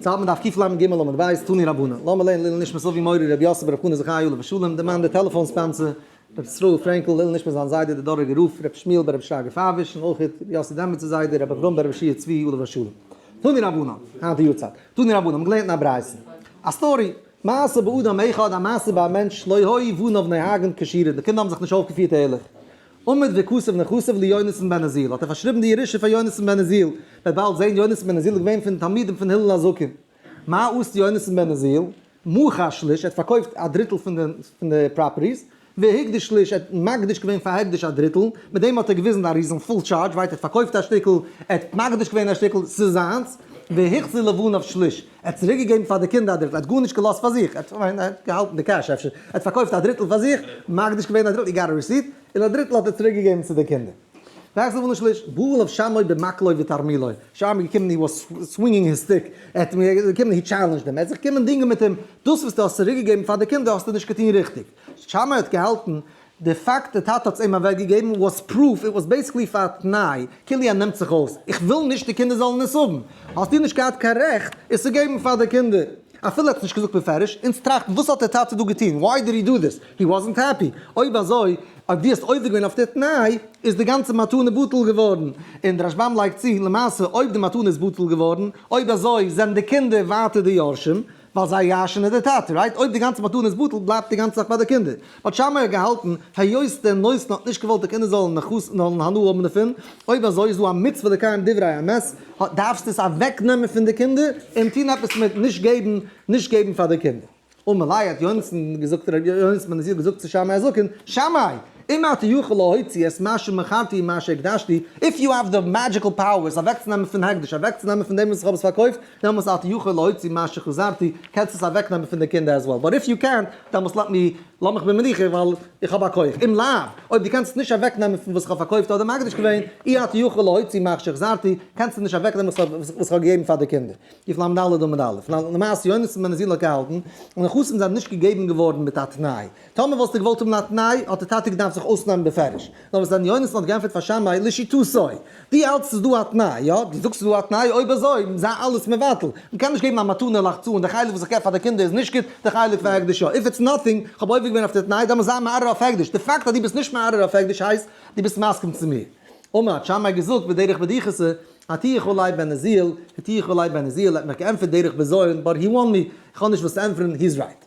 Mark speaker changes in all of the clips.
Speaker 1: צייט מען דארף ק ו למ ג עמוד ב' איז תני רבנן לאמער לערנען לעילוי נשמת אבי מורי רבי יוסף ברב חנא זכאי עליו השלום דער מאן דער טעלעפאן ספאנסער רבי ישראל פרענקל לעילוי נשמת זיין זיידע דער דאראגער רב רבי שמואל ברב שרגא פאוויש און אויך רבי יוסי דעמעצער זיידע רבי אברהם ברב ישעי' צבי עליו השלום תני רבנן היינט יארצייט תני רבנן מ'האט געלערנט אין א ברייתא א סטארי מעשה באדם אחד א מעשה ביי א מענטש לא היו בניו נוהגין כשירין די קינדער האבן זיך נישט אויפגעפירט ערליך עמוד וכסף נכסיו ליונתן בן עזיל האט ער פארשריבן די ירושה פאר יונתן בן עזיל, וועט באלד זען יונתן בן עזיל איז געווען פון די תלמידים פון הלל הזקן. מה עשת יונתן בן עזיל? מכר שליש ער האט פארקויפט א דריטל פון די פראפערטיס, והקדיש שליש ער האט מקדיש געווען פאר הקדש א דריטל, מיט דעם האט ער געוויזן א ריזן פול טשארדזש ווייט ער האט פארקויפט א שטיקל, ער האט מקדיש געווען א שטיקל, ס'איז זיינס, והחזיר לבניו שליש ער האט צוריק געגעבן פאר די קינדער א דריטל, ער האט גארנישט געלאזט פאר זיך, ער האט כ'מיין ער האט געהאלטן די קעש אפשר, ער האט פארקויפט א דריטל פאר זיך, מקדיש געווען א דריטל, איר גאט א רעסיט, און א דריטל האט ער צוריק געגעבן צו די קינדער. ווייסט וואס נישט בועל אויף שמעו במקלו ותרמילו, שמעו איז געקומען הי וואס סווינגינג היז סטיק, ער האט מיר געקומען הי טשעלענדזשד אים, ער האט זיך געקומען דינגען מיט אים, דאס וואס דו האסט צוריק געגעבן פאר די קינדער האסטו נישט געטון ריכטיג, שמעו האט געהאלטן די פאקט די טאטע האט עס אים אוועק געגעבן וואס פרוף איט וואס בעיסיקלי פאר א תנאי כאילו ער נעמט זיך אויס איך וויל נישט די קינדער זאלן עס האבן האסטו נישט געהאט קיין רעכט עס צו געבן פאר די קינדער אפילו ער האט עס נישט געזאגט בפירוש אונז טראכטן וואס האט די טאטע דא געטון וואי דיד הי דא דיס הי וואזענט העפי אויב אזוי אויב דו האסט עובר געווען אויף די תנאי איז די גאנצע מתנה בטל געווארן און די רשבם לייגט צו למעשה אויב די מתנה איז בטל געווארן אויב אזוי זענען די קינדער ווייטער די יורשים ווייל זיי ירש'ן איז די טאטע, רייט? אויב די גאנצע מתנה איז בטל, בלייבט די גאנצע זאך ביי די קינדער. באט שמאי האט געהאלטן, היות דער נותן האט נישט געוואלט די קינדער זאלן נחת זאלן הנאה האבן דערפון, אויב אזוי איז דא א מצוה לקיים דברי אמת, האט דארפסטו עס אוועקנעמען פון די קינדער, און טון עפעס מיט נישט געבן, נישט געבן פאר די קינדער. ומילא האט יונתן געזאגט, ר' יונתן בן עזיאל געזאגט צו שמאי הזקן, שמאי! אם אתה יכול להוציא את מה שמכרתי ומה שהקדשתי, איף יו העוו די מעדזשיקל פאוערס אוועקצונעמען פון הקדש, אוועקצונעמען פון דעם וואס איך האב עס פארקויפט, דעמאלס אתה יכול להוציא מה שחזרתי, קענסט עס אוועק נעמען פון די קינדער as well, באט איף יו קענט, דעמאלס לאט מי, לאז מיך במנוחה ווייל איך האב א כח, אם לאו, אויב דו קענסט עס נישט אוועק נעמען פון וואס איך האב פארקויפט אדער מקדיש געווען, אי אתה יכול להוציא מה שחזרתי, קענסט עס נישט אוועק נעמען וואס איך האב געגעבן פאר די קינדער. יפ למ ד עמוד א', למעשה יוניסן מען איז איר נאר געהאלטן, און די נכסים זענען נישט געגעבן געווארן מיט א תנאי, טאמער וואלסטו געוואלט האבן א תנאי, האט די טאטע געדארפט זיך אויסנעמען בפירוש. נאר וואס ר' יונתן האט געענטפערט פאר שמאי, לשיטתו, דו האלטסט ס'איז דא א תנאי, יא? דו זאגסט ס'איז דא א תנאי? אויב אזוי, זיי אלעס מבטל. מ'קען נישט געבן א מתנה לח צ און די חלק וואס איך געב פאר די קינדער איז נישט גוט, די חלק פאר הקדש יא. איף איטס נאטינג, איך האב עובר געווען אויף די תנאי, דעמאלטס זיי מערער אויף הקדש. די פאקט אז דו ביסט נישט מערער אויף הקדש הייסט, דו ביסט מסכים צו מיר. אמער, האט שמאי געזאגט בדרך בדיחותא, האט איך אולי בן עזיאל, האט איך אולי בן עזיאל, ער האט מיך געענטפערט דרך בזיון, באט הי וואן מי, איך האב נישט וואס צו ענטפערן, הי'ז רייט.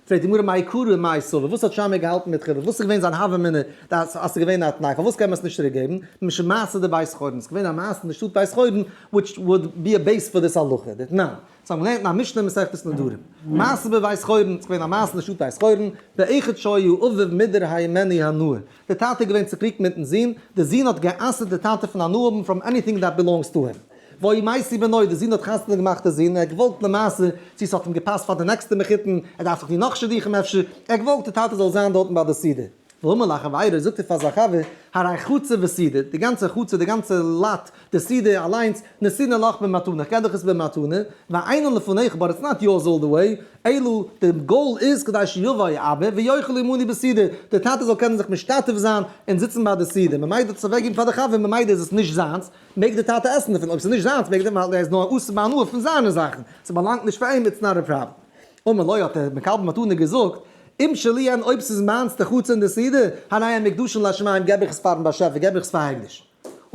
Speaker 1: פרעגט די גמרא מאי קרא מאי סבר, וואס האט שמעיה געהאלטן מיט חיוב, וואס איז געווען זיין הוה אמינא, אז ס'איז געווען א תנאי, פארוואס קען מען עס נישט צוריקגעבן, משום מעשה די בית חורן, ס'איז געווען א מעשה אין די שטאט בית חורן, וויטש וואלד בי א בעיס פאר דיס הלכה, די תנאי, דאס האבן מיר געלערנט אין א משנה אין מסכת נדרים, מעשה בבית חורן, ס'איז געווען א מעשה אין די שטאט בית חורן, באחד שהיה אביו מידר הימני הנאה, די טאטע איז געווען צוקריגט מיטן זון, די זון האט גע'אסר'ט די טאטע פון הנאה האבן פראם עניטינג דעט בילאנגס טו הים. ויהי מעשי בנו, די זון האט חתונה געמאכט די זון, ער האט געוואלט למעשה, צו ס'האט אים געפאסט פאר די נעקסטע מחותן, ער דארף זיך טון נאך שידוכים אפשר, ער האט געוואלט די טאטע זאל זיין דארטן ביי די סידור, ואמר לחבירו, זאגט ער פאר זיין חבר, הרי חצר וסידור, די גאנצע חצר, די גאנצע לאט, די סידור אליינס, נתינא לך במתנה, כ'געב דיך עס במתנה, והענין לפניך, באט איטס נאט יורס אלל די וועי, אלא די גאול איז כדי שיבוא האבא ויאכל עמני בסידור, די טאטע זאל קענען זיך משתתף זיין און זיצן ביי די סידור, ממילא דאס צו אוועקגעבן פאר די חבר ממילא איז עס נישט זיינס, מעג דער טאטע עסן דערפון, אויב ס'איז נישט זיינס מעג ער ווייל ער איז נאר עוסק בהנאה פון זיינע זאכן, ס'באלאנגט נישט פאר אים, איטס נאט אויף פראפערטי. אמר לו האט דער מקבל מתנה געזאגט, אם שלי הן אויב ס'איז מיינס די חצר און די סידור, הנה הן מקדשין לשמים געב איך עס פארן באשעפער, געב איך עס פאר הקדש.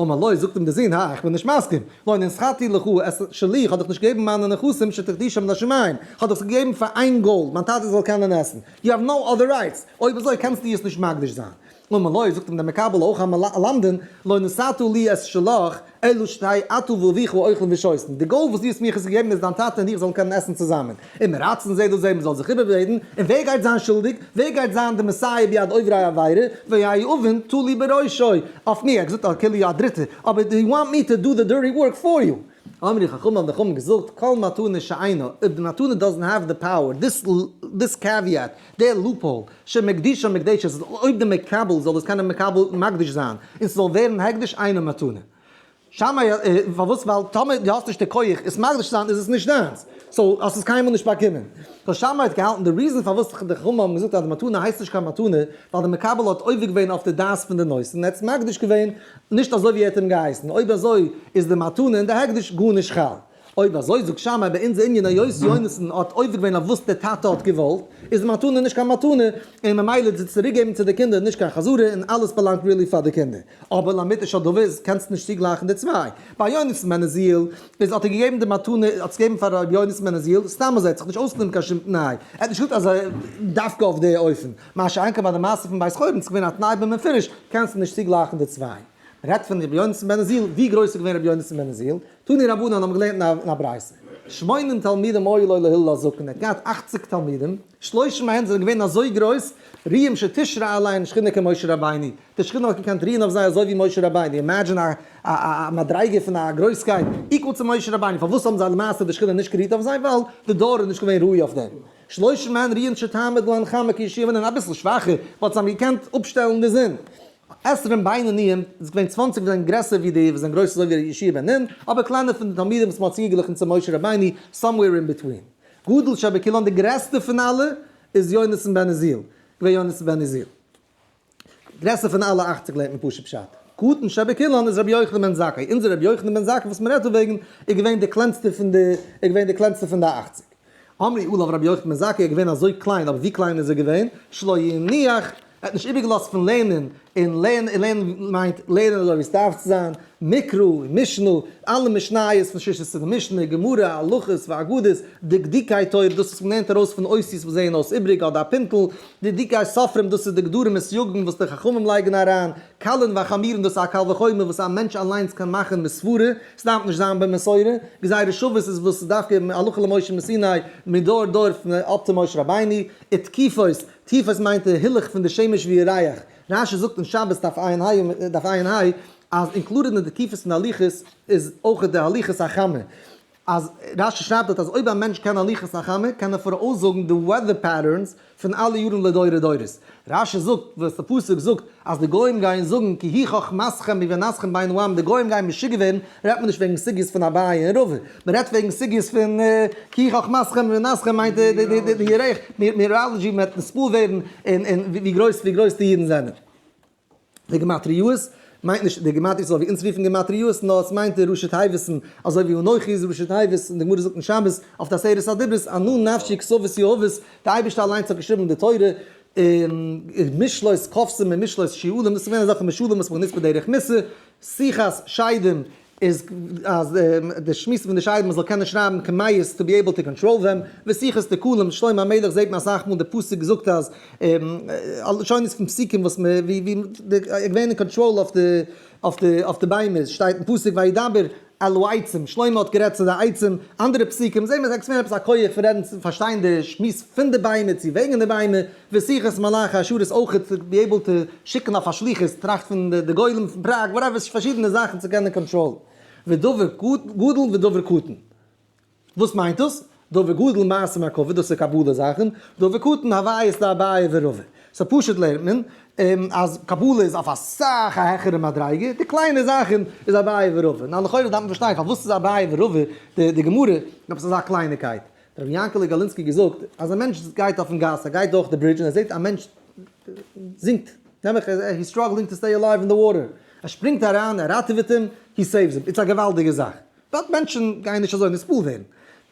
Speaker 1: אמר לו זאגט אים דער זון, הא, איך בין נישט מסכים, לא נשכרתי לך, עס איז שלי, איך האב דיך נישט געגעבן מיינע נכסים שתקדישם לשמים, איך האב דיך עס געגעבן פאר איין גאול, מיין טאטע זאל קענען עסן, יו האוו נאו אדער רייטס, אויב אזוי קענסטו עס נישט מקדיש זיין. אמר לו, זאגט אים דער מקבל אויך א מלא למדן, לא נשאתו לי את שלך, אלא שתי אתה ואביך ואוכלין ושותין, די גאול וואס דו האסט מיר איך עס געגעבן איז דיין טאטע און איך זאלן קענען עסן צוזאמען, און מיר רייצן זה דאס זה, מען זאל זיך איבעררעדן, און ווער גייט זיין שולדיג? ווער גייט זיין די מסייע ביד עוברי עבירה? והיה יאובן תלוי בראשו, אויף מיר, ער האט געזאגט אז כאילו א דריטער, אבער יו וואנט מי טו דו די דירטי ווארק פאר יו? אמרי חכמים האבן די חכמים געזאגט, כל מתנה שאינה, אויב די מתנה דאזענט העוו די פאוער, דיס דיס קעוויעט, די לופהאל של מקדישו ומקדשת איז אויב די מקבל זאל דאס קענען מקבל מקדיש זיין און ס'זאל ווערן הקדש אינו מתנה. שמאי א, פארוואס? ווייל טאמער דו האסט נישט די כח עס מקדיש צו זיין איז עס נישט דיינס, סאו האסט עס קיינמאל נישט באקומען. סאו שמאי האט געהאלטן די ריזן פארוואס די חכמים האבן געזאגט אז די מתנה הייסט נישט קיין מתנה ווייל די מקבל האט עובר געווען אויף די דעת פון די נושא און ער האט עס מקדיש געווען נישט אזוי ווי ער האט אים געהייסן אויב אזוי איז די מתנה און די הקדש גארנישט חל. אויב אזוי זאג שמאי ביי אונזער ענין היות יונתן האט עובר געווען אויף וואס די טאטע האט געוואלט, איז די מתנה נישט קיין מתנה, און ממילא איז די צוריק געבן צו די קינדער נישט קיין חזרה, און אלעס באלאנגט ריעלי פאר די קינדער. אבער לאמיתו של דבר איז קענסט נישט צוגלייכן די צוויי. ביי יונתן בן עזיאל איז האט ער געגעבן די מתנה האט עס געגעבן פאר ר' יונתן בן עזיאל סתם אזוי ער האט זיך נישט אויסגענומען קיין שום תנאי, ער האט נישט געזאגט אז דווקא אויף די אופן. מה שאין כן ביי די מעשה פון בית חורין איז געווען א תנאי במפורש קענסט נישט צוגלייכן די צוויי. מען רעדט פון ר' יונתן בן עזיאל, ווי גרויס איז געווען ר' יונתן בן עזיאל? תני רבנן האבן געלערנט אין א ברייתא, שמונים תלמידים היו לו להלל הזקן, ער האט געהאט אכציג תלמידים, שלושה מהן זענען געווען אזוי גרויס, ריעם שתשרה עליהם שכינה כמשה רבינו, די שכינה האט געקענט רוען אויף זיי אזוי ווי משה רבינו, אימעדזשין א א מדריגה פון א גרויסקייט איקוועל צו משה רבינו, פארוואס האבן זיי למעשה די שכינה נישט גערוהט אויף זיי? ווייל די דור איז נישט געווען ראוי אויף דעם, שלושה מהן ריען שתעמוד להם חמה כישיבה, און אביסל שוואכער וואלט זיי געקענט אפשטעלן די זון. עשרים בינוניים איז געווען צוואנציג וואס זענען גרעסער ווי די וואס זענען גרויס אזוי ווי די ישוב אין נין, אבער קליינער פון די תלמידים וואס מען האט צוגעגליכן צו משה רבינו, סאמוועיר אין ביטווין. גדול שבקילאן די גרעסטע פון אלע איז יונתן בן עזיאל, געווען יונתן בן עזיאל. גרעסער פון אלע אכציג לערנט מען פשוט פשט. קטן שבקילאן איז רבי יוחנן בן זכאי, אונזער רבי יוחנן בן זכאי וואס מען רעדט דא וועגן איז געווען די קלענסטער פון די איז געווען די קלענסטער פון די אכציג. אמרי אליו רבי יוחנן בן זכאי איז געווען אזוי קליין אבער ווי קליין איז ער געווען שלא יניח ער האט נישט איבערגעלאזט פון לערנען און לערנען מיינט לערנען אזוי ווי עס דארף צו זיין מקרא און משנה אלע משניות פון ששת עשרה משנה גמרא הלכות ואגדות דקדוקי תורה דאס וואס מען לערנט ארויס פון אותיות וואס זעען אויס איבריג אדער א פינטל דקדוקי ספרים דאס איז די גדרים און סיוגים וואס די חכמים לייגן אריין קלען וחמירן דאס איז א קל וחומר וואס א מענטש אליינס קען מאכן מסברה, סדארף נישט זיין במסורה, גזירה שוות איז וואס איז דווקא הלכה למשה מסיני מדור דור פון אב ת משה רבינו, ותקיפות, תקיפות מיינט די הילוך פון די שמש ווי ירח, רשי זאגט אין שבת דף עיין ה דף עיין ה אז אינקלודעד אין די תקיפות פון הליכות איז אויך די הליכות החמה. אז רשי שרייבט דארט אז אויב א מענטש קען הליכות החמה קען ער פאראויס זאגן די וועדער פעטערנס פון אלע יארן לדורי דורות. רשי זאגט וואס די פסוק זאגט אז די גוים גייען זאגן כי היא חכמתכם ובינתכם בין העמים די גוים גייען משוגע ווערן רעדט מען נישט וועגן סוגיות פון אביי און רבא מען רעדט וועגן סוגיות פון כי היא חכמתכם ובינתכם מיינט די ירח מיראלעדזשי מען וועט נספור ווערן און און ווי גרויס ווי גרויס די אידן זענען. די גמטריאות מיינט נישט די גמטריאות אזוי ווי אונז רופן גמטריאות נאר עס מיינט די ראשי תיבות'ן אזוי ווי אנכי איז ראשי תיבות און די גמרא זאגט אין שמות אויף די עשרת הדיברות ענו נפשי כסאות יהבות די אייבערשטער אליינס האט געשריבן די תורה און משלות קופסים און משלות שיעולים דאס איז געווען אזעלכע משלים וואס מען האט גענוצט בדרך מס' שיחות שדים איז אז די שמועסן פון די שיידן מען זאל קענען שרייבן כמעיס טו בי עיבל טו קאנטראל דעם, ווי שיחות תקלים שלמה המלך זעהט מען אסאך מאל די פסוק זאגט אז לשונות פון פסוקים וואס מען ווי ווי ער געווען אין קאנטראל אויף די אויף די אויף די ביימער שטייט אין פסוק וידבר אל העצים שלמה האט גערעדט צו די עצים, אנדערע פסוקים זעהט מען עס עקספערינען עפעס א כח פון רעדן פון פארשטיין די שמועס פון די ביימער צו וועגן די ביימער. ושיחת מלאכי אשור איז אויכעט צו בי עיבל טו שיקן אויף א שליחות טראכט פון די גולם פון פראג וואטעווער פארשידענע זאכן צו קענען קאנטראלן ודבר גדול ודבר קטן וואס מיינט דאס? דבר גדול מעשים הקבה דאס איז קבלה זאכן דבר קטן הוויות לאביי ורבא סאו פשוט לערנט מען אז קבלה איז אויף אסאך א העכערע מדריגה די קליינע זאכן איז אביי ורבא נאר לכאורה דארף מען פארשטיין פארוואס איז אביי ורבא די גמרא עפעס אזא קלייניקייט האט רבי יענקעלע גאלינסקי געזאגט אז א מענטש גייט אויפן גאס, ער גייט דורך די ברידזש און ער זעט א מענטש זינקט, נעבעך he's struggling to stay alive in the water, ער שפרינגט אריין, ער ראטעוועט אים, he saves him, איטס א געוואלדיגע זאך, באט מענטשן גייען נישט אזוי נספול ווערן,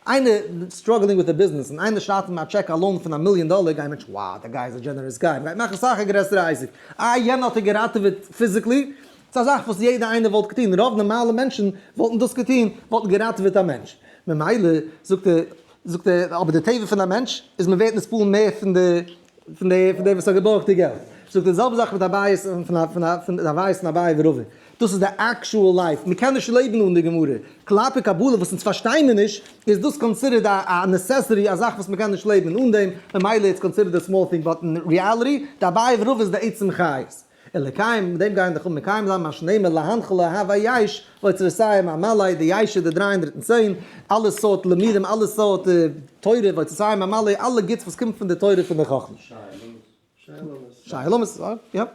Speaker 1: איינער struggling with a business און איינער שרייט אים א טשעק א לאון פון א מיליאן דאלער גייען מענטשן wow, דער גאי איז א דזשענערעס גאי, מ'גייט מאכן סאך א גרעסערע אייסיק, אה יענער האט ער געראטעוועט פיזיקלי, ס'איז א זאך וואס יעדער איינער וואלט געטון, רוב נארמאלע מענטשן וואלטן דאס געטון, וואלטן געראטעוועט א מענטש, ממילא זאגט ער, זאגט ער, אבער די טבע פון א מענטש איז מען ווערט נסבל מער פון די, פון די, פון דער וואס האט געבארגט די געלט, זאגט ער די זעלבע זאך מיט א בייעס פון, פון א, פון א, פון א בייעס פון אביי ורבא, דאס איז די עקשועל לייף, מען קען נישט לעבן אן די גמרא, כלפי קבלה וואס אונז פארשטיי מיר נישט, איז דאס קאנסידערט א, א נעסעסערי, א זאך וואס מען קען נישט לעבן אן דעם, ממילא איטס קאנסידערט א סמאל טינג, באט אין ריעליטי, די אביי ורבא איז די עצם חיות. און לקיים דעם גייען דיך אן מקיים זיין מה שנאמר להנחה לאהבה יש לאוצר הסיים המלא די יש איז די דרײַ הונדערט און צען אלע סארט לימודים אלע סארט תורה ואוצר הסיים המלא אלע גוטס וואס קומט פון די תורה פון די חכמה שיילומס יאפ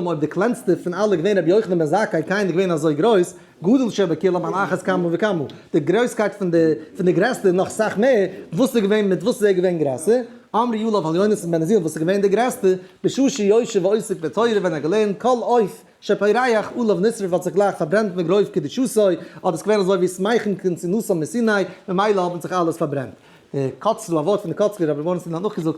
Speaker 1: אויב די קלענסטע פון אלע געווען רבי יוחנן בן זכאי קיינער געווען אזוי גרויס גודל שבכולם על אחת כמה וכמה, די גרויסקייט פון די פון די גרעסטע נאך סאך מער, וואס איז געווען מיט וואס איז ער געווען גרעסער, אמר יואל אויף עליונות פון בן עזיל וואס איז געווען די גרעסטע, בשעה שיושב ועוסק בתורה ווען ער האט געלערנט כל עוף שפורח עליו נשרף האט זיך גלייך פארברענט מגרוב קדושתו, האט עס געווען אזוי ווי סמייכן קין צונאסם מסיני, ממילא האבן זיך אלעס פארברענט. די קוצל, א ווארט פון די קוצלער רבי מוהרן ז ל האט נאכגעזאגט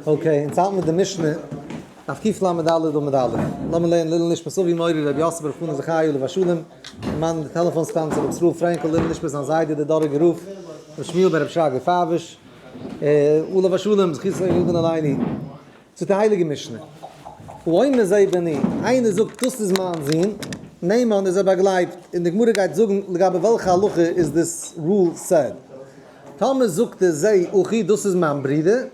Speaker 1: אקעי, אונז האלטן מיט די משנה אויף קלע מד א עמוד א'. לאמיר לערנען לעילוי נשמת אבי מורי רבי יוסף ברוך פאנעט זכרי' עליו השלום, דערמאנען די טעלעפאן סטאנציע רבי ישראל פרענקל, לעילוי נשמת זיין זיידע דער דאראגער רב רבי שמואל בן רבי שרגא פארוש עליו השלום זכותו יגן עלינו, צו די הייליגע משנה, ואומר זה בני, איינער זאגט דאס איז מיין זון, נעמען איז ער באגלייבט, און די גמרא גייט זאגן לגבי וועלכע הלכה איז דאס רול סעד. טאמער זאגט ער זיי אוכי דאס איז מיין ברודער,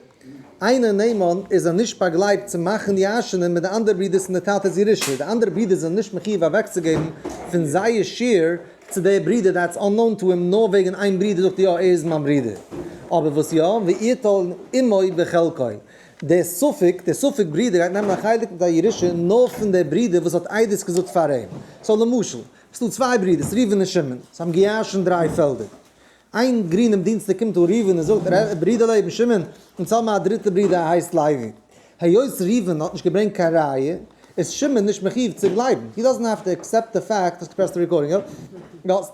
Speaker 1: איינער נאמן איז ער נישט באגלייבט צו מאכן די אייזשענער מיט די אנדערע ברודערס און דער טאטע איז ירושה, די אנדערע ברודערס זענען נישט מחיוב אוועקצוגעבן פון זייער שער צו דער ברודער דעטס אננאון טו הים, נאר וועגן איין ברודער זאגט ער יא ער איז מיין ברודער, אבער וואס יא, ויטול עמו בחלקו, דער ספק, דער ספק ברודער גייט נעמען א חלק מיט א ירושה נאר פון דער ברודער וואס האט עדות געזאגט פאר אים, סאו למשל, ס'דא צוויי ברודערס ראובן און שמעון, זיי האבן געירשנט דריי פעלדער, איין גרינעם דינסטאג קומט אן ראובן און זאגט, ר' ברידער לעבן שמעון, אונז האבן א דריטע ברידער ער הייסט לוי. היות ראובן האט נישט געברענגט קיין ראיה, איז שמעון נישט מחיוב צו גלייבן. הי דאזענט העוו טו עקסעפט די פעקט, האסט געפרעסט די רעקארדינג אויף?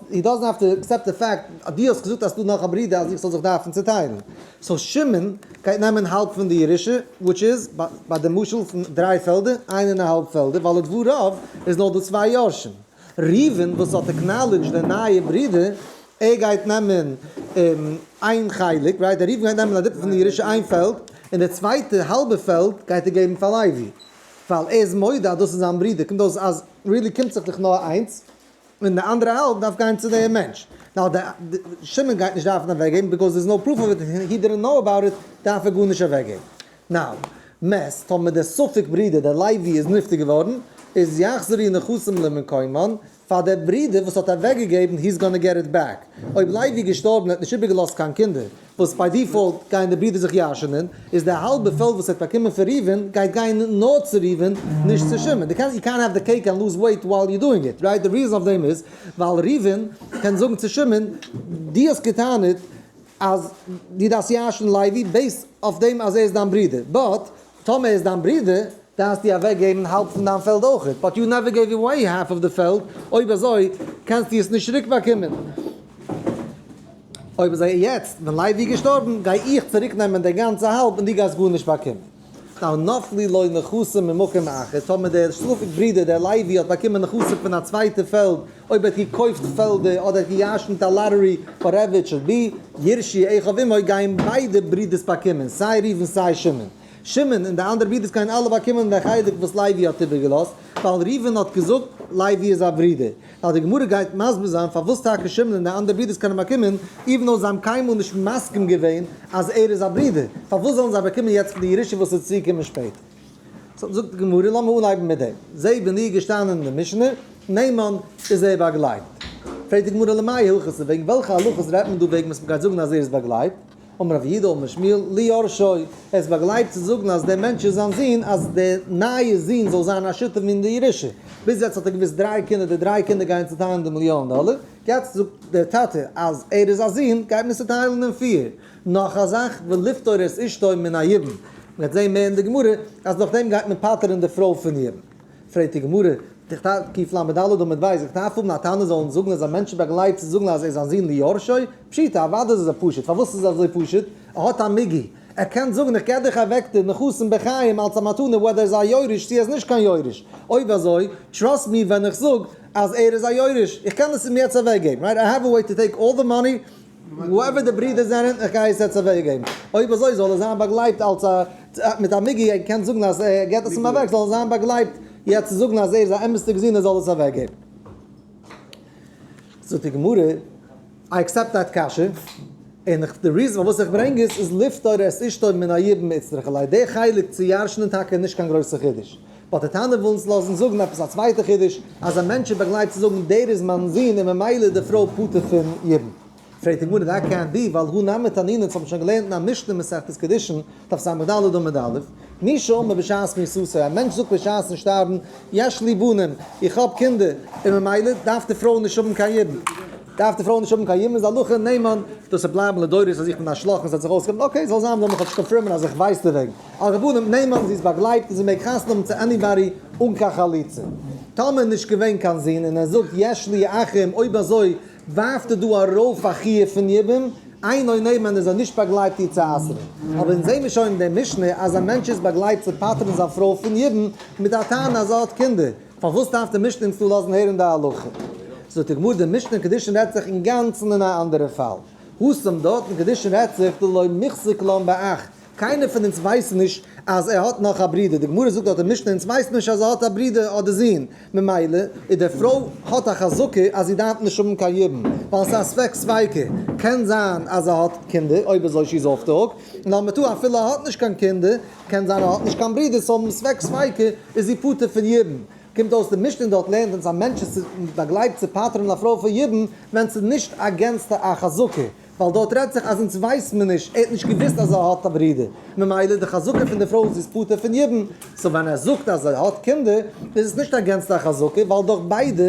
Speaker 1: הי דאזענט העוו טו עקסעפט די פעקט אז דו האסט געזאגט אז ס'דא נאך א ברידער אז איך זאל זיך דארפן צוטיילן. סאו שמעון גייט נעמען האלב פון די ירושה, וויטש איז, ביי די משל פון דריי פעלדער, איין און א האלב פעלדער, ווייל לדבריו איז נאר דא צוויי יורשים. ראובן וואס האט עקנאלידזשד די נייע ברודער, ער גייט נעמען איין חלק, רייט, דער ראובן גייט נעמען א דריטל פון די ירושה איין פעלד, און די צווייטע האלבע פעלד גייט ער געבן פאר לוי, ווייל ער איז מודה אז דאס איז זיין ברודער, קומט אויס אז ריעלי קומט זיך דאך נאר איינס, און די אנדערע האלב דארף גיין צו דעם מענטש, נאר שמעון גייט נישט דארפן אוועקגעבן, ביקאוז דער איז נאו פרוף אוו איט, און הי דידענט נאו אבאוט איט, דארף ער גארנישט אוועקגעבן. נאַו, מעסט, טאָמער דער ספֿק ברודער, דער לייבי, איז נפֿטר געוואָרן, איז יחזרו נכסים למקומם, פֿאַר דער ברודער, וואָס האָט אַוועקגעגעבן, היס גאָנע געט איט בעק. אויב לייבי איז געשטאָרבן און האָט נישט איבערגעלאָזט קיין קינדער, וואָס ביי דיפֿאָלט גייען די ברודער זיך ירשענען, איז דער האַלבער פֿעלד, וואָס ער האָט באַקומען פֿון ראובֿן, גייט גיין נאָר צו ראובֿן, נישט צו שמעון. דו קענסט, יו קענט העוו דע קעיק ענד לוז וועיט ווייל יו דואינג איט, רייט? דער ריזען אויף דעם איז, ווייל ראובֿן קען זאָגן צו שמעון, דו האָסט געטענהט, אז דו דארפסט ירש'ן לייבי בעיסד אויף דעם אז ער איז דיין ברודער, באט טאמער ער איז דיין ברודער דארפסטו אוועק געבן האלב פון דיין פעלד אויכעט, באט יו נעווער געיוו עוועי האלף אוו די פעלד, אויב אזוי קענסטו עס נישט צוריק באקומען. אויב אזוי יעצט ווען לייבי איז געשטארבן גיי איך צוריק נעמען די גאנצע האלב און דו גייסט גארנישט באקומען. ווייל נפלי לו נכסים ממקום אחר, טאמער דער שטראפיק ברודער דער לייבי האט באקומען נכסים פון א צווייטע פעלד, אויב ער האט געקויפט פעלדער אדער ער האט געירשנט א לאטערי וואטעווער איט שוד בי, ירשי עכ אויף אים אויך גייען ביידע ברודערס באקומען, סיי ראובן סיי שמעון. שמעון און די אנדערע ברודערס גייען אלע באקומען דער חלק וואס לייבי האט איבערגעלאזט, ווייל ראובן האט געזאגט לייבי איז א ברודער. ווייל די גמרא גייט מסביר זיין פארוואס טאקע שמעון און די אנדערע ברודערס קענען באקומען, איווען דאו זיי האבן קיינמאל נישט מסכים געווען אז ער איז א ברודער, פארוואס זאלן זיי באקומען יעצט פון די ירושה וואס איז צוגעקומען שפעטער? סאו זאגט די גמרא, לאמיר אנהייבן מיט דעם, זע ווען איר געשטאנען אין די משנה, נעמן איז ער באגלייבט, פרעגט די גמרא למאי הלכות, וועגן וועלכע הלכות רעדט מען דא וועגן וואס מען גייט זאגן אז ער איז באגלייבט, אמר רבי יודל בן שמואל ליורשו, ער איז באגלייבט צו זאגן אז דער מענטש איז זיין זון, אז דער נייער זון זאל זיין א שותף אין די ירושה, ביז יעצט האט ער געוואוסט דריי קינדער, די דריי קינדער גייען צוטיילן די מיליאן דאלער, יעצט זאגט דער טאטע אז ער איז א זון, גייט מען צוטיילן אין פיר. נאך א זאך, ולפטור את אשתו מן היבם, מ'גייט זען מער אין די גמרא, אז נאכדעם גייט מען פטר'ן די פרוי פון יבם. פרעגט די גמרא, תכתב קיף לד עמוד ב', איך דארף האבן א טענה זאלן זאגן אז א מענטש באגלייט צו זאגן אז ער איז א זון ליורשי? פשיטא, אוודאי איז עס פשוט, פארוואס איז עס אזוי פשוט? ער האט א מגי, ער קען זאגן איך געב דיך א וועקטער מכוסים בחיים אלץ א מתנה וואדער ער איז א יורש צו ער איז נישט קיין יורש, אויב אזוי טראסט מי ווען איך זאג אז ער איז א יורש, איך קען עס אים יעצט אוועקגעבן, רייט, איי העוו א וועי טו טעיק אלל די מאני. וואו עווער די ברידער זענען, איך גיי עס יעצט אוועק געבן, אויב אזוי זאל עס זיין באגלייבט אלס א, מיט א מגיה און קען זאגן אז ער געבט עס אים אוועק, זאל עס זיין באגלייבט יעצט צו זאגן אז ער איז א אמת'דיג זון ער זאל עס אוועק געבן. זאגט די גמרא, איי עקסעפט דעט קשיא, און איך, די ריזען פארוואס איך ברענג עס איז לפטור את אשתו מן היב מצריך, אולי די חלק צו ירש'נען טאקע איז נישט קיין גרויסע חידוש, אט די טענה וויל אונז לאזן זאגן עפעס א צווייטע חידוש, אז א מענטש איז באגלייבט צו זאגן דער איז מיין זון און ממילא איז די פרוי פטור פון יבום. פרעגט די גמרא דאר קען בי ווייל הוא נמי תנינא צו האבן שוין געלערנט אין א משנה אין מסכת קידושין דף סמ ד עמוד א', מי שאומר בשעת מיסוסו א מענטש זאגט בשעת'ן שטארבן יש לי בנים איך האב קינדער און ממילא דארף די פרוי נישט האבן קיין יבום, דארף די פרוי נישט האבן קיין יבום איז הלכה נהמא דאס וועט בלייבן לדורות אז איך בין א שלאך און ס'האט זיך אויסגעהאלטן אקעי זאל זיין וויל מען כאטש קאנפירמען אז איך ווייס דערוועגן. הרבנים נעמען זי איז באגלייבט און זי מעג חתונה האבן צו עניבאדי אן קיין חליצה. טאמער נישט געווען קיין זון און ער זאגט יש לי אחים אויב אזוי ווארפט ער דא ארויף א חיוב פון יבום אין און נעמען איז ער נישט באגלייבט איר צו אסר'ן. אבער אונז זעמיר שוין אין די משנה אז א מענטש איז באגלייבט צו פטר'ן זיין פרוי פון יבום מיט א טענה אז ער האט קינדער. פארוואס דארף די משנה אונז לאזן הערן די הלכה? זאגט די גמרא די משנה אין קדושין רעדט זיך אינגאנצן אין א אנדערע פאל. הוסם דארט אין קדושין רעדט זיך דלא מחזיק לן באח קיינער פון אונז ווייסט נישט אז ער האט נאך א ברודער, די גמרא זאגט אט די משנה אונז ווייסן נישט אז ער האט א ברודער אדער זון, ממילא איז די פרוי האט א חזקה אז זי דארף נישט האבן קיין ידען, ווייל עס איז א ספק ספיקא, קען זיין אז ער האט קינדער, אויב אזוי שיז אףף די הוק, און לאמיר טאן אפילו ער האט נישט קיין קינדער, קען זיין ער האט נישט קיין ברודער, סאו האבן ספק ספיקא איז זי פטור פון ידען, קומט אויס די משנה דארט לערנט אונז א מענטש איז באגלייבט צו פטר'ן א פרוי פון ידען ווען ס'איז נישט אגענסט א חזקה. ווייל דארט רעדט זיך אז אונז ווייסט מען נישט, ער האט נישט געוואוסט אז ער האט א ברודער, ממילא די חזקה פון די פרוי איז זי איז פטור פון יבום, סאו ווען ער זאגט אז ער האט קינדער איז עס נישט א גענצליכע חזקה, ווייל דורך ביידע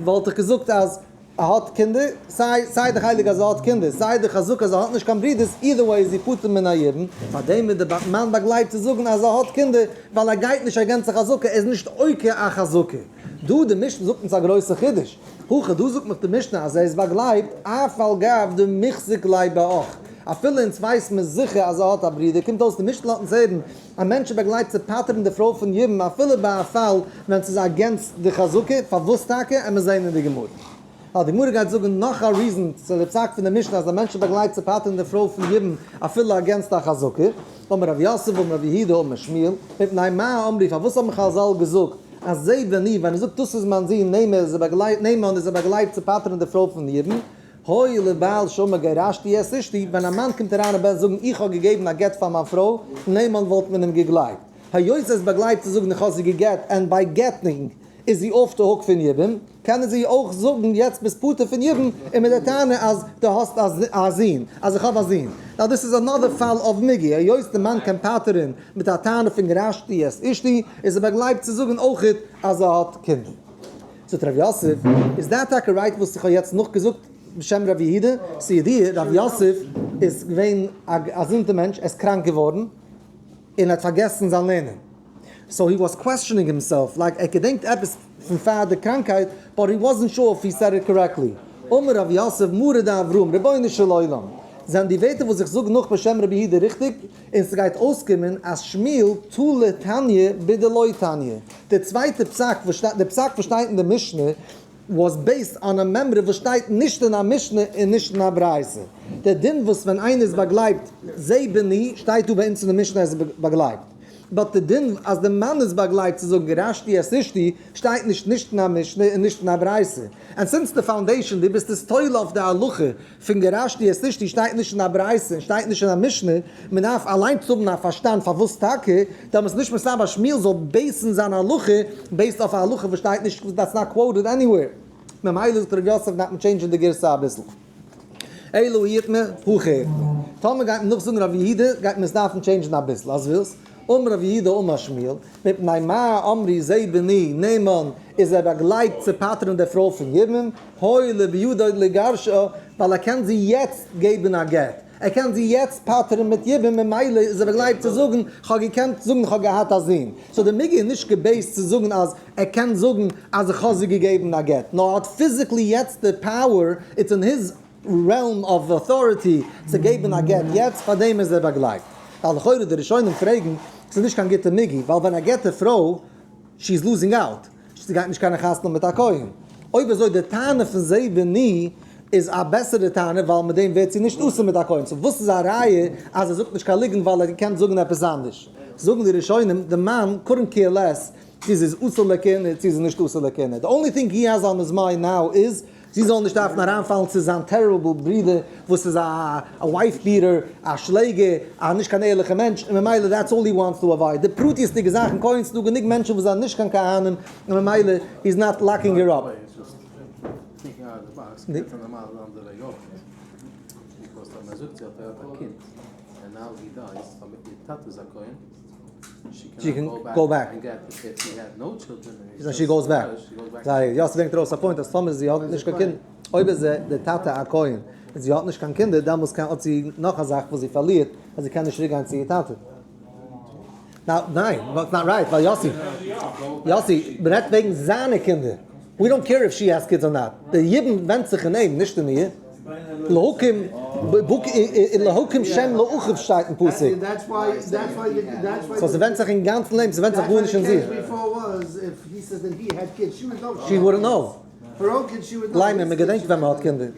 Speaker 1: וואלט איך געזאגט אז ער האט קינדער, סיי סיי די חלק אז ער האט קינדער, סיי די חזקה אז ער האט נישט קיין ברודערס, אידער וועי איז זי פטור מן היבום, פאר דעם איז די בת מיין באגלייבט צו זאגן אז ער האט קינדער, ווייל ער גייט נישט אגענצן חזקה, ער איז נישט עוקר א חזקה. דא די משנה זאגט אונז א גרויסע חידוש, הכא דא זאגט נאך די משנה אז ער איז באגלייבט אף על גב די מחזיק ליה באח, אפילו אונז ווייסט מיר זיכער אז ער האט א ברודער, קומט אויס די משנה לאזט אונז הערן א מענטש איז באגלייבט צו פטר'ן די פרוי פון יבם אפילו ביי א פאל ווען ס'איז אגענסט די חזקה, פארוואס טאקע? עמער זעהן אין די גמרא. האט די גמרא געהייט זאגן נאך א ריזען צו די פסק פון די משנה אז א מענטש באגלייט צו פטר'ן די פרוי פון יבום אפילו אגענסט א חזקה, אמר רב יוסף אמר רב יהודה אמר שמואל, מפני מה אמרי פארוואס האבן חז ל געזאגט אז זה בני ווען ער זאגט דאס איז מיין זון נעם ער איז ער באגלייט נעם אן איז ער באגלייט צו פטר'ן די פרוי פון יבום, הוי לבעל שאומר גרשתי את אשתי ווען א מאן קומט אריין און בעט זאגן איך האב געגעבן א גט פאר מיין פרוי נעם אן וואלט מען אים געגלייבט היות ער איז באגלייט צו זאגן איך האב זי גע'גט און ביי געט'נינג איז זי אףף די הוק פון יבום. קענען זיי אויך זאגן יעצט ביסט פטור פון ידען און מיט די טענה אז דו האסט א זון, אז איך האב א זון. נאו דיס איז אנאדער פאל אוו מיגי, היות די מאן קען פטר'ן מיט א טענה פון גרשתי את אשתי, איז ער באגלייבט צו זאגן אויכעט אז ער האט קינדער. זאגט ר' יוסף, איז דעט טאקע רייט וואס איך האב יעצט נאכגעזאגט בשם ר' יהודה? ס'ידיעה, ר' יוסף איז געווען א געזונטע מענטש, ער איז קראנק געווארן און ער האט פארגעסן זיין לערנען. סאו הי וואס קוועסטשענינג הימסעלף לייק ער געדענקט עפעס פון פאר די קראנקהייט באט הי וואזענט שור אויף הי סעד איט קארעקטלי אמר רב יוסף מרא דאברהם רבונו של עולם זענען די ווערטער וואס איך זאג נאך בשם רבי יהודה ריכטיג און סגייט אויסקומען אז שמיל תל' תניא בי ד לא תניא די צווייטע פסק וואס שטייט די פסק וואס שטייט אין די משנה וואס בעיסד אן א מימרא וואס שטייט נישט אין א משנה און נישט אין א ברייתא די דין וואס ווען איינער איז באגלייבט זעה בני שטייט דא ביי אונז אין די משנה אז ער איז באגלייבט. באט די דין אז די מאן איז באגלייבט צו זאגן גרשתי את אשתי שטייט נישט נישט אין א משנה און נישט אין א ברייתא. ענד סינס די פאונדעישאן דו ביסט איז תולה אויף די הלכה פון גרשתי את אשתי שטייט נישט אין א ברייתא און שטייט נישט אין א משנה, מען דארף אליינס האבן א פארשטאנד פארוואס טאקע, דעמאלטס איז נישט מסתבר אז שמואל זאל בעיסן זיין הלכה בעיסד אויף א הלכה וואס שטייט נישט דעטס נאט קוואוטעד עניוועיר. ממילא זאגט ר' יוסף דארף מען טשעינדזשען די גירסא אביסל. אילו היט מען, הכא היט מען. טאמער גייט מען נאכזאגן ר' יהודה גייט מען עס דארפן טשעינדזשן אביסל אז ווילסט, אמר ר' יהודה אמר שמואל, מפני מה אמרי זה בני נאמן איז ער באגלייבט צו פטר'ן די פרוי פון יבם, הואיל ובידו לגרשה ווייל ער קען זי יעצט געבן א גט. ער קען זי יעצט פטר'ן מיט יבום ממילא איז ער באגלייבט צו זאגן כ'האב געקענט זאגן כ'האב געהאט א זון, סאו די מג איז נישט געבעיסט צו זאגן אז ער קען זאגן אז איך האב זי געגעבן א גט, נאר ער האט פיזיקלי יעצט די פאוער, איטס אין היז רעלם אוו אוטאריטי צו געבן א גט יעצט, פארדעם איז ער באגלייבט. ווייל לכאורה די ראשונים פרעגן, ס'איז נישט קיין גוטע מג, ווייל ווען ער גט די פרוי, שי איז לוזינג אוט. זי גייט נישט קענען חתונה מיט א כהן. אויב אזוי די טענה פון זיי ואני איז א בעסערע טענה ווייל מיט דעם ווערט זי נישט אסור מיט א כהן. סאו וואס איז א ראיה אז ער זאגט נישט קיין ליגענט ווייל ער געקענט זאגען עפעס אנדערש. זאגען די ראשונים די מאן קאדענט קעיר לעס צו זי איז אסור לכהונה צו זי איז נישט אסור לכהונה. די אנלי טינג הי העז אן היז מיינד נאו איז זי זאל נישט דארפן אריינפאלן צו זיין טעריבל ברודער וואס איז א ווייף ביעטער, א שלעגער, א נישט קיין ערליכע מענטש, און ממילא דעטס אלל הי וואנטס טו עוואויד די פרטיות'דיגע זאכן, כהן ס'דא גענוג מענטשן וואס זענען נישט קיין כהנים און ממילא היז נאט לאקינג הער אפ.
Speaker 2: זי קען גיין און גיין געט די
Speaker 1: קינד,
Speaker 2: זי האט נאו טשילדרען און זי איז
Speaker 1: דזשאסט א נורס, יאסי ברענגט ארויס א פוינט אז טאמער זי האט נישט קיין קינדער, אויב איז די טאטע א כהן און זי האט נישט קיין קינדער דעמאלס קען האט זי נאך א זאך וואס זי פארלירט אז זי קען נישט צוריק גיין צו איר טאטע. ניין, דאטס נאט רייט ווייל יאסי יאסי רעדט וועגן זיינע קינדער. ווי דאנט קעיר איף שי העז קידס אר נאט, די ידען ווענדט זיך אין אים נישט אין איר, להקים בק און להקים שם לאחיו שטייט אין פסוק,
Speaker 3: סאו
Speaker 1: ס'ווענדט זיך אינגאנצן אין אים, ס'ווענדט זיך גארנישט אין זי.
Speaker 3: שי וואודענט נאו, ליינער, מ'געדענקט ווען מ'האט
Speaker 1: קינדער.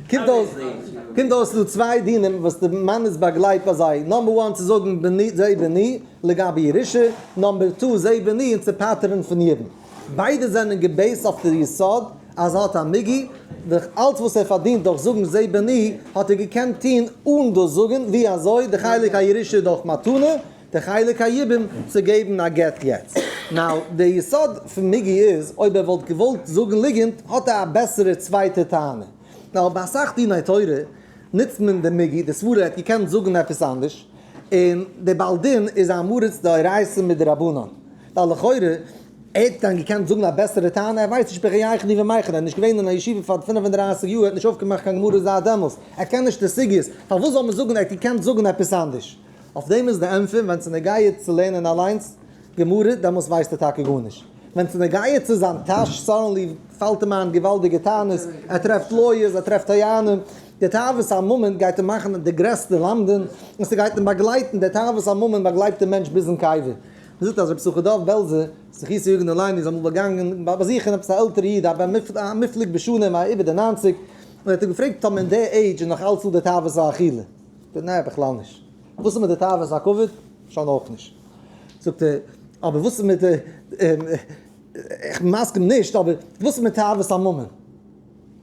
Speaker 3: קומט אויס קומט אויס ס'דא
Speaker 1: צוויי דינים וואס די מאן איז באגלייבט ביי זיי, נאמבער וואן צו זאגן בני זה בני לגבי ירושה, נאמבער טו זה בני און צו פטר'ן פון יעדן, ביידע זענען געבעיסט אויף די יסוד אז ער האט א מגי ד, אלץ וואס ער פארדינט דורך זאגן זה בני האט ער געקענט טון אן דאס זאגן, ווי אזוי די חלק הירושה דורך מתנה. די חלק היבום צו געבן א גט יעצט. נאו, די יסוד פון מיגי איז אויב ער וואלט געוואלט זאגן ליגענט האט ער א בעסערע צווייטע טענה. נאר ביי אסאך דיני תורה נוצט מען די מיגי, די סברא ער האט געקענט זאגן עפעס אנדערש, און די בעל דין איז א מריץ דאורייתא מיט דרבנן. ווייל לכאורה ער האט דען געקענט זאגן א בעסערע טענה? ער ווייסט נישט בחייכון די ומייכון, ער איז נישט געווען אין א ישיבה פאר פֿינף און דרײַסיק יאר, ער האט נישט אויפגעמאכט קיין גמרא זייט דעמאלס, ער קען נישט די סוגיות, פארוואס זאל מען זאגן ער האט געקענט זאגן עפעס אנדערש? אויף דעם איז די ענטפער, ווען ס'איז נוגע צו לערנען אליינס גמרא, דעמאלס ווייסט ער טאקע גארנישט. ווען ס'איז נוגע צו זיין טאש, סאדענלי פאלט אים איין געוואלדיגע טענות, ער טרעפט לויערס, ער טרעפט טוענים, די תאוות הממון גייט אים מאכן די גרעסטע למדן, און ס'גייט אים באגלייטן, די תאוות הממון באגלייט דעם מענטש ביזן קבר. מ'זאגט אז רבי שמחה דוב בעלזער זכותו יגן עלינו איז אמאל באגאנגען באזוכן עפעס א עלטערע איד, א מופלג בשנים, איבער די ניינציג, און ער האט אים געפרעגט, טאמער אין די עידזש איז נאך אלץ דא די תאוות האכילה? ב ניין בכלל נישט. וואס איז מיט די תאוות הכבוד? שוין אויך נישט. זאגט ער, אבער וואס איז מיט די, איך בין מסכים נישט, אבער וואס איז מיט תאוות הממון?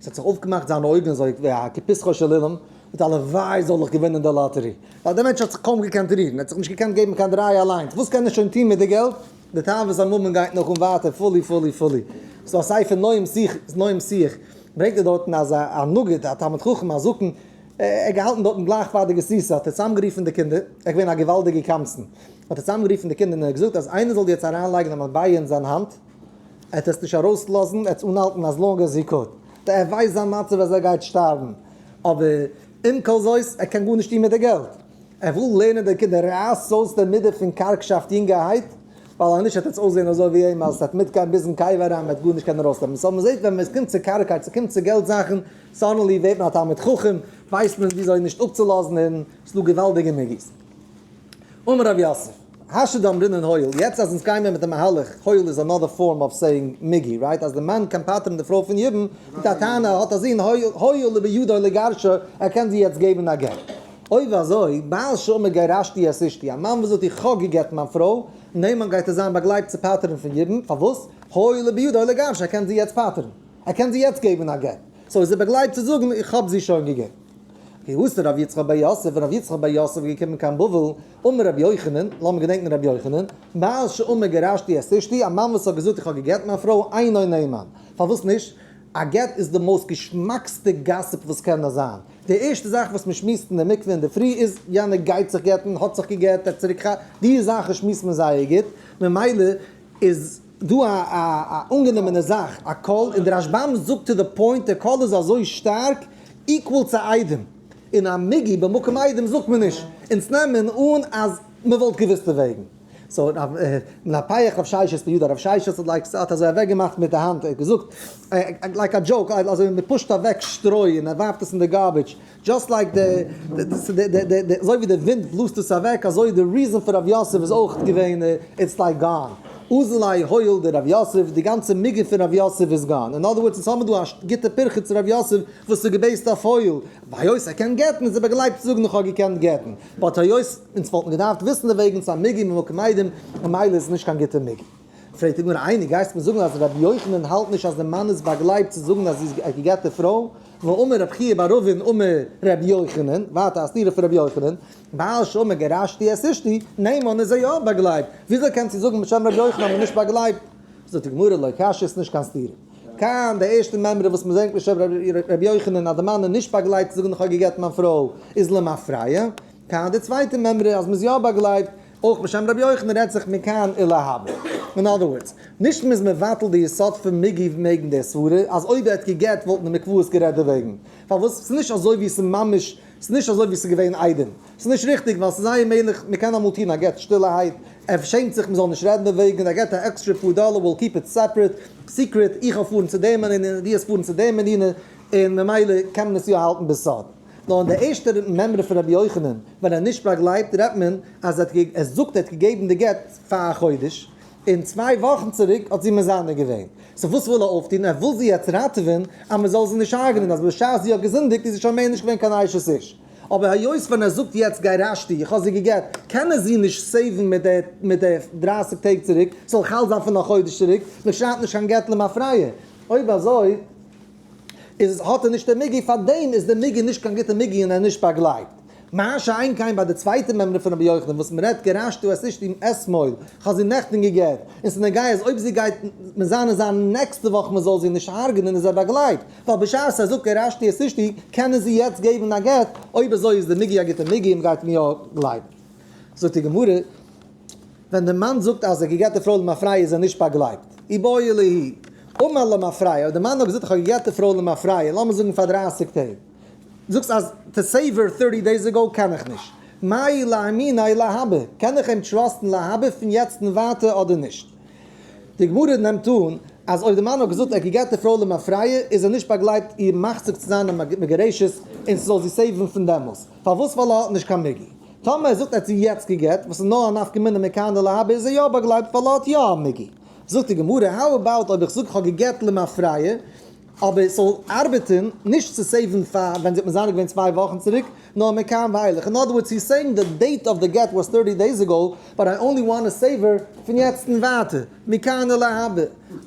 Speaker 1: עס האט זיך אויפגעמאכט זיינע אויגן אזוי ווי א כפסחו של אילן, מיט הלוואי זאל איך געווינען די לאטערי. ווייל דער מענטש האט זיך קוים געקענט רירן, ער האט זיך נישט געקענט געבן קיין דריי אליינס, וואס קען ער שוין טון מיט די געלט? די תאוות הממון גייט נאך אן ווייטער פולי פולי פולי. ס'איז דא א ספר נועם שיח, נועם שיח, ברענגט ער דארטן אז א נגיד, א תלמיד חכם, א זקן, ער האט געהאלטן דארטן גלייך פאר די גסיסה האט ער צוזאמגערופן די קינדער, ער איז געווען א געוואלדיגער קמצן, האט ער צוזאמגערופן די קינדער און ער האט געזאגט אז איינער זאל יעצט אריינלייגן א מטבע אין זיין האנט, ער וועט עס נישט ארויסלאזן, ער וועט עס אנהאלטן אז לאנג עז הי קוד, ווייל ער ווייסט זיין מצב אז ער גייט שטארבן, אבער עם כל זאת, ער קען גארנישט טון מיט די געלט, ער וויל לערנען די קינדער, רייסט אויס די מידה פון קארגשאפט יונגערהייט, ווייל אז נישט וועט עטס אויסזען אזוי ווי אים אז עס וועט מיטגיין ביזן קבר אריין, מען וועט גארנישט קענען ארויסנעמען, סאו מען זעט ווען עס קומט צו קארגקייט, עס קומט צו געלט זאכן, סאדענלי ווערט מען א תלמיד חכם, ווייסט מען וויאזוי נישט אפצולאזן און עס איז דא געוואלדיגע מעגאזינס. אמר רב יוסף, האשה דאמרינן הויל, יעצט אז אונז גיימער מיט די מהלך, הויל איז אנאדער פארם אוו סעיאינג מיגי, רייט? אז די מאן קען פטר'ן די פרוי פון יבום, מיט א טענה, האט א זון הויל, הויל הוא בידו לגרשה, ער קען זי יעצט געבן א גט. אוי ואזוי, בעל שאומר גרשתי את אשתי, א מאן וואס זאגט איך האב גע'גט'ן מיין פרוי, און דעם מאן גייט ער זיין באגלייבט צו פטר'ן פון יבום, פארוואס? הויל הוא בידו לגרשה, ער קען זי יעצט פטר'ן. ער קען זי יעצט געבן א גט. סאו איז ער באגלייבט צו זאגן איך האב זי שוין געגעבן. ווי האסט ר' יצחק בר יוסף און ר' יצחק בר יוסף איז געקומען קיין בבל, אמר ר' יוחנן, לאמיר געדענקן ר' יוחנן, מאז שאמר גרשתי את אשתי, א מאן וואס האט געזאגט איך האב געגעט מיין פרוי, אינו נאמן. פארוואס נישט? א גט איז די מאוסט געשמאקסטע גאסיפ וואס קען נאר זיין. די ערשטע זאך וואס מען שמועסט אין די מקווה אינדערפרי איז יענער גייט זיך גט'ן, האט זיך געגט, ער האט צוריק ח ו, די זאכן שמועסט מען זייער גוט, ממילא איז. דא א א א אנגענומענע זאך, א קול, און די רשב ם זאגט טו די פוינט, דער קול איז אזוי שטארק, איקוואל צו איידעם, און א מגי במקום איידעם זאגט מען נישט, אונז נעמען אן אז מען וואלט געוואוסט די וועגן. סאו רב נפח רב ששת בידו, רב ששת האט לייק האט אזוי אוועק געמאכט מיט די האנט, ער האט געזאגט לייק א דזשאוק, אזוי מען פושט אוועק שטרוי און מען ווארפט עס אין די גארבידזש, דזשאסט לייק די אזוי ווי די ווינט בלאזט עס אוועק אזוי די ריזען פון רב יוסף איז אויך געווען איטס לייק גאן אוזלאי הויל די רב יוסף די גאנצע מיגו פון רב יוסף איז גאן אין אדער ווארדס אונז האבן דא א גוטע פירכא צו רב יוסף וואס איז געבעיסט אויף הויל וויי היות ער קען גט'ן איז ער באגלייבט צו זאגן איך האב געקענט גט'ן באט היות אונז וואלטן געדארפט וויסן דערוועגן צו א מיגו ממקום איידעם ממילא איז עס נישט קיין גוטע מיגו. פרעגט די גמרא, איינער גייסט מיר זאגן אז רבי יוחנן האלט נישט אז די מאן איז באגלייבט צו זאגן אז זי איז א געגעטע פרוי, ואמר רב חייא בר רבין אמר רבי יוחנן, ווייטער א סתירה פון רבי יוחנן, בעל שאמר גרשתי את אשתי, ניין מאן איז זיי יא באגלייבט, וויאזוי קענסט דו זאגן בשם רבי יוחנן אז מ'איז נישט באגלייבט? זאגט די גמרא לא קשיא איז נישט קיין סתירה. כאן די ערשטע מימרא וואס מ'ברענגט בשם רבי יוחנן אז די מאן איז נישט באגלייבט צו זאגן איך האב געגעטן מיין פרוי איז למפרע, כאן די צווייטע מימרא אז מ'איז יא באגלייבט אויך בשם רבי יוחנן רעדט זיך מכאן אל ההווה. אין אדער ווארדס, נישט מ'איז מבטל די יסוד פון מגי ו מעגן די סברה אז אויב ער האט גע'גט וואלטן די מקוואות גערעדט דערוועגן. פארוואס? ס'איז נישט אזוי ווי ס'איז ממש, ס'איז נישט אזוי ווי ס'איז געווען איידעם. ס'איז נישט ריכטיג ווייל ס'איז זייער מעגליך מ'קען אמאל טון א גט שטילערהייט, ער שעמט זיך מ'זאל נישט רעדן דערוועגן, ער געט א עקסטרע פאר דאלער וויל קיפ איט סעפרעט, סיקרעט, איך וועל פארן צו דעם ענין און דו וועסט פארן צו דעם ענין און ממילא קען מען עס יא האלטן בסוד. נאר אין די ערשטע מימרא פון רבי יוחנן ווען ער נישט באגלייבט רעדט מען אז ער זאגט ער האט געגעבן די גט פאר א חודש און צוויי וואכן צוריק האט זי מזנה געווען, סאו וואס וויל ער אויפטון? ער וויל זי יעצט ראטעווען אז מען זאל זי נישט הרג'נען אז בשעת זי האט געזינדיגט איז זי שוין מער נישט געווען קיין אשת איש, אבער היות ווען ער זאגט יעצט גרשתי איך האב זי גע'גט קען ער זי נישט סעיוון מיט די מיט די דרייסיג טעג צוריק, ס'זאל חל זיין פון א חודש צוריק, מען שרייבט נישט קיין גט למפרע, אויב אזוי. איז האט ער נישט די מיגי פאר דעם איז די מיגי נישט קיין גוטע מיגי און ער נישט באגלייבט. מה שאין כן ביי די צווייטע מימרא פון רבי יוחנן וואס מען רעדט גרשתו את אשתי עם ס מויל, כ'האב זי נעכטען געגערט, און ס'איז נוגע אז אויב זי גייט מען זיין אין זיין נעקסטע וואך מען זאל זי נישט הרג'נען איז ער באגלייבט, ווייל בשעת ער זאגט גרשתי את אשתי קען ער זי יעצט געבן א גט, אויב אזוי איז די מיגי א גוטע מיגי און מ'גייט עם יא גלייבן. זאגט די גמרא. ווען דער מאן זאגט אז ער האט געגעט די פרוי למפרע איז ער נישט באגלייבט, אי באי עלי' אמר למפרע, אויב דער מאן האט געזאגט איך האב געגעט די פרוי למפרע, לאמיר זאגן פאר דרייסיג טעג, זאגסט אז טו סעיוו ער טורטי דעיס עגאו קען איך נישט, מאי לאמינא להבא, קען איך אים טראסטן להבא פון יעצט און ווייטער אדער נישט? די גמרא נעמט אן אז אויב דער מאן האט געזאגט ער האט געגעט די פרוי למפרע איז ער נישט באגלייבט איר מחזיק צו זיין א מגרשת און ס'זאל זי סעיוון פון דעמאלס, פארוואס ווייל ער האט נישט קיין מגי. טאמער ער זאגט ער האט זי יעצט גע'גט וואס איז נאר א נפקא מינה מכאן דלא הווה איז ער יא באגלייבט ווייל ער האט יא א מגי. זאגט די גמרא האו אבאוט אויב איך זאג איך האב גע'גט למען פריה אבער עס זאל ארבעטען נישט צו סעיווען פאר ווען זי האט מזנה געווען צוויי וואכן צוריק נאר מכאן ואילך אין אדער ווארדס הי איז סעיאינג די דעיט אוו די גט וואס טורטי דעיס אגאו באט איי אנלי וואנט טו סעיוו הער פון יעצט אין ווייטער מכאן דלא הווה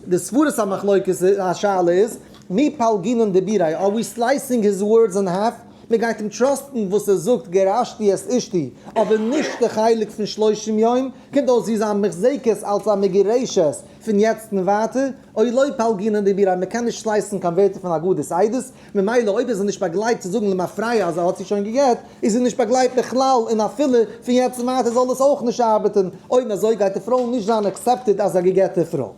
Speaker 1: די סברות המחלוקת השאלה איז מי פלגינן דביריה אר ווי סלייסינג היז ווארדס אין האלף. מען גייט אים טראסטן וואס ער זאגט גרשתי את אשתי אבער נישט די חלק פון שלושים יום, קומט אויס ווי זיין מחזקת אלס א מגורשת פון יעצט און ווייטער, אוי לא פלגינן דעבירה אז מען קען נישט שלייסן קיין ווערטער פון אגודת עדות, ממילא אויב איז ער נישט באגלייבט צו זאגן למפרע אז ער האט זי שוין גע'גט, איז ער נישט באגלייבט בכלל און אפילו פון יעצט און ווייטער זאל עס אויך נישט ארבעטן, אויב אזוי גייט די פרוי נישט זיין עקסעפטעד אז א גע'גט'ע פרוי.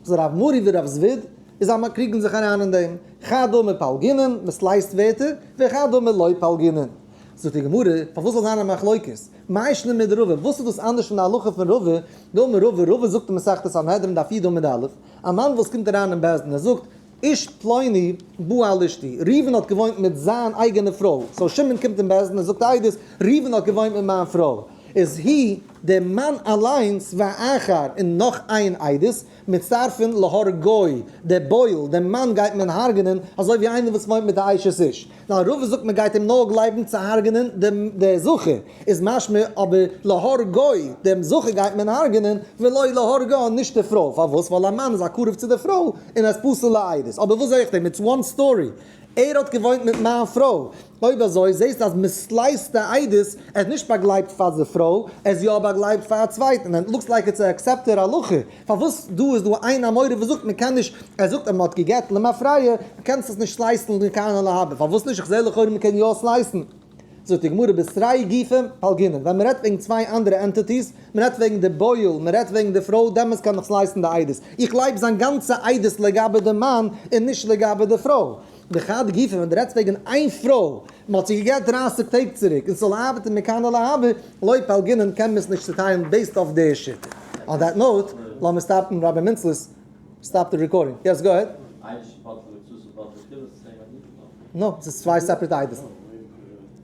Speaker 1: ז רב מורי ורב זוויד איז א מקריגן זיך אריין אין דעם כא דא מפלגינן מען סלייסט ווערטער וכא דא מלא פלגינן זאגט די גמרא פארוואס זאל זיין א מחלוקת מאי שנא מיט רבא וואס איז דאס אנדערש פון די הלכה פון רבא דא מרבא רבא זאגט אין מסכת סנהדרין דף י ד עמוד א' א מאן וואס קומט אריין אין בית דין ער זאגט איש פלוני בא אל אשתי, ראובן האט געוואוינט מיט זיין אייגענע פרוי, סאו שמעון קומט אין בית דין און זאגט א עדות, ראובן האט געוואוינט מיט מיין פרוי, איז הי ד מאן אליינס ואחר און נאך איין עדות, מצטרפין להרגו, דער בועל, דעם מאן גייט מען הרג'נען, אזוי ווי איינער וואס וואוינט מיט א אשת איש. ווייל ראובן זאגט מען גייט אים נאר גלייבן צו הרג'נען דעם דער זכר, איז משמע אבער להרגו, דעם זכר גייט מען הרג'נען, ולא להרגה, נישט די פרוי, פארוואס? ווייל א מאן איז א קרוב צו די פרוי, און ער איז פסול לעדות, אבער וואס זע איך דעם, איטס וואן סטארי, ער האט געוואוינט מיט מיין פרוי, אויב אזוי זעסטו אז מען סלייסט די עדות, ער איז נישט באגלייבט פאר די פרוי, ער איז יא באגלייבט פאר א צווייטן, ענד לוקס לייק איטס א עקסעפטעד הלכה, פארוואס דא איז דא איין אמורא וואס זאגט מען קען נישט, ער זאגט אז מען האט גע'גט למפרע, דו קענסט עס נישט סלייסן לכהנה להבא, פארוואס נישט, איך זעה לכאורה מען קען יא סלייסן, זאגט די גמרא בשרי גופא פלגינן, ווען מען רעדט וועגן צוויי אנדערע ענטיטיס, מען רעדט וועגן די בויעל, מען רעדט וועגן די פרוי, דעמאלס קען איך סלייסן די עדות, איך גלייב זיין גאנצע עדות לגבי די מאן און נישט לגבי די פרוי. מחד גיסא ווען דו רעדסט וועגן איין פרוי וואס מען האט זי געגעבט דרייסיג טעג צוריק און ס'זאל ארבעטן מכאן אל אהבה, לויט פאלגענעם קען מען עס נישט צוטיילן בעיסד אויף די שיטה. אן דעט נאוט, לאמיר סטאפן רבי מינצל'ס סטאפ די רעקארדינג. יעס גאו אהעד. נא, ס'איז צוויי סעפערעט איידעס.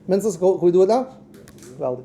Speaker 1: מינצל'ס קאוט ווי דא און דא. געוואלדיג.